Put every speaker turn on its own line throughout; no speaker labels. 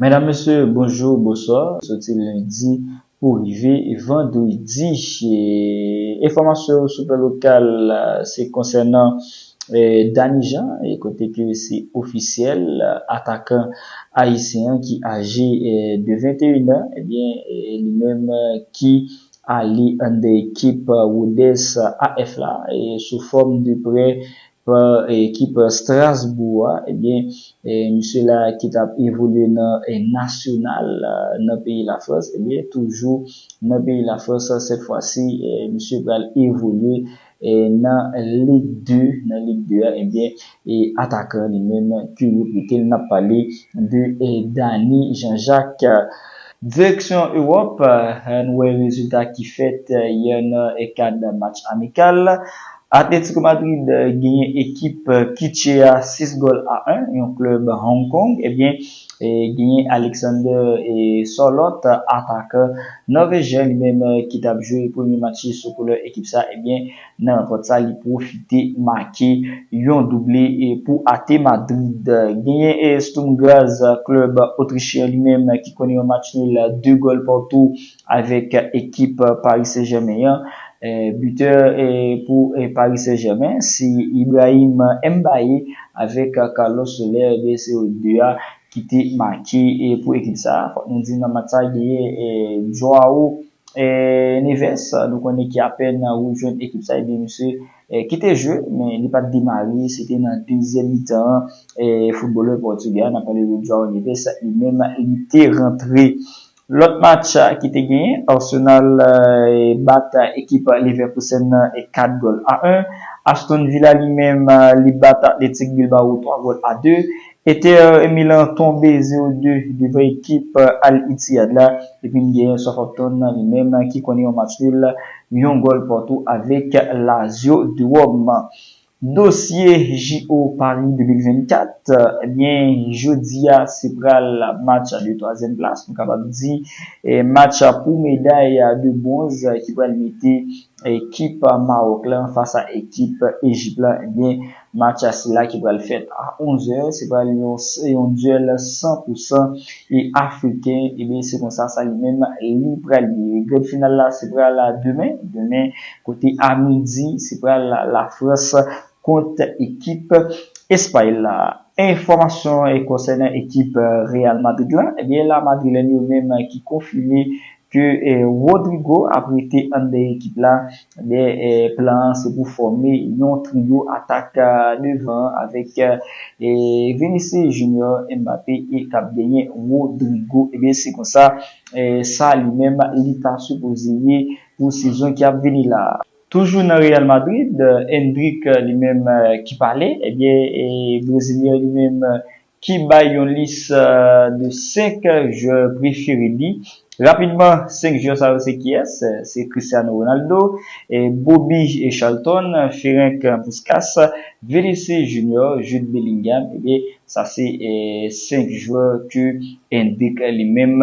Medam mesye bonjou boswa soti lendi pou rive vandredi enfòmasyon sou plan lokal se konsènan Dany Jean kote ke se ofisyèl atakan ayisyen an ki aje de 21 an ebyen li menm ki ale anndan ekip Rodès AF la sou fòm de prè Pran ekip Strasbourg a, ebyen misye la ki tap evolye nan Nacional nan peyi Lafrans, ebyen toujou nan peyi Lafrans sèt fwa si misye pral evolye nan Lig 2, nan Lig 2 a ebyen atakan li menm ki rekrite l nap pale de Dany Jean Jacques. Direksyon Ewòp, ann wè rezilta ki fèt yè nan kad match amikal Atletico Madrid genyen ekip Kitche a 6 gòl a 1, yon klèb Hong Kong ebyen genyen Alexander Sorloth atakan Nòvejyen li menm ki tap jwe premye match li sou koulè ekip sa ebyen nan rankont sa li pwofite make yon double pou AT Madrid. Genyen Sturm Graz klèb Otrichyen li menm ki konnen yon match nul 2 gòl partou Avèk ekip Paris Saint Germain an, bitè pou Paris Saint Germain se Ibrahim Mbaye avèk Carlos Soler 2 se yo 2 a ki te make pou ekip sa. Fòk nou di nan match sa genyen Joao Neves nou konnen ki apèn rejwenn ekip sa ebyen misye ki te jwe men li pat demare se te nan dezyèm mitan an footbalè pòtugè a nap pale de Joao Neves li menm li te rantre Lòt match ki te genyen, Arsenal bat ekip Leverkusen nan 4 gòl a 1, Aston Villa li menm li bat Athletic Bilbao 3 gòl a 2, Inter Milan tonbe 0 2 devan ekip Al Ittihad la, epi n genyen Southampton li menm ki konnen yon match nul yon gòl patou avèk Lazio de Rome. Dosye JO Paris 2024, ebyen jodia se pral match a de twazyèm plas, nou kapab di match pou meday de bwonz ki pral mete ekip Mawòk la fas a ekip Ejip la, ebyen match a sila ki pral fèt a 11 zè, se pral yon dyèl san pou san e afriken, ebyen se konsa sa li menm li pral ye. Grand final la se pral demen, demen kote a midi se pral la Frans kont ekip Espay la. Enfòmasyon konsènan ekip Real Madrid la, ebyen la Madrilèn yo menm ki konfime ke Rodrygo ap rete anndan ekip la, ebyen plan an se pou fòme yon trio atak devan an avèk Vinicius Junior, Mbappé e kap genyen Rodrygo, ebyen se konsa sa li menm li ta sipoze ye pou sezon ki ap vini la. Toujou nan Real Madrid, Endrick li menm ki pale, ebyen e brezilyen li menm ki bay yon lis de 5 jwè prefere li. Rapidman 5 jwè sa yo se kiyès? Se Cristiano Ronaldo, Bobby Charlton, Ferenc Puskas, Vinicius Junior, Jude Bellingham, ebyen sa se 5 jwè ke Endrick li menm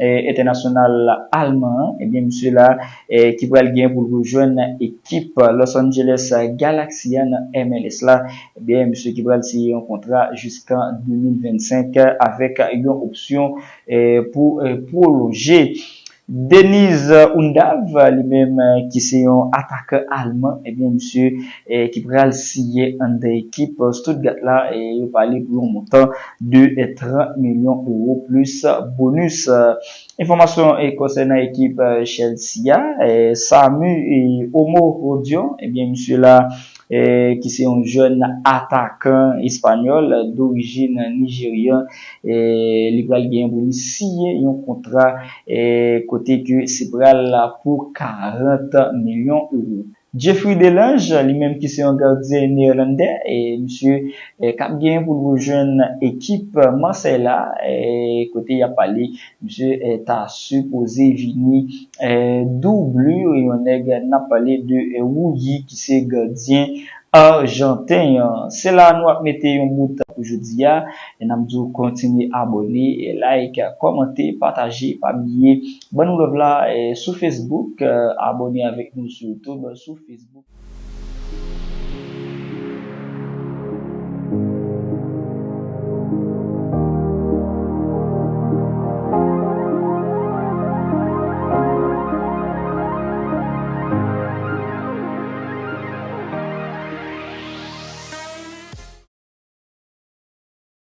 Entènasyonal alman an, ebyen misye la ki pral gen pou l rejwenn ekip Los Angeles Galaxy a nan MLS la, ebyen misye ki pral siyen yon kontra jiskan 2025 avèk yon opsyon pou pwolonje. Deniz Undav li menm ki se yon atakan alman, ebyen misye ki pral siyen anndan ekip Stuttgart la, yo pale pou yon montan de 30 milyon ewo plis bonus. Enfòmasyon konsènan ekip Chelsea a, Samu Omorodion, ebyen misye la ki se yon jèn atakan espanyòl dorijin nijeryan, li pral genyen pou li siyen yon kontra kote ke se pral pou 40 milyon ewo. Jeffry Delange, li menm ki se yon gardyen neerlandè, misye kap genyen pou l rejwenn ekip Marseille la, kote yap pale misye ta sipoze vini doubli yon nèg nap pale de Rulli ki se gardyen arjanten an. Se la nou ap mete yon bout pou jodi a, nap di w kontinye abone, like, kòmante, pataje, pa bliye Ban nou love la sou Facebook abone avek nou sou YouTube sou Facebook.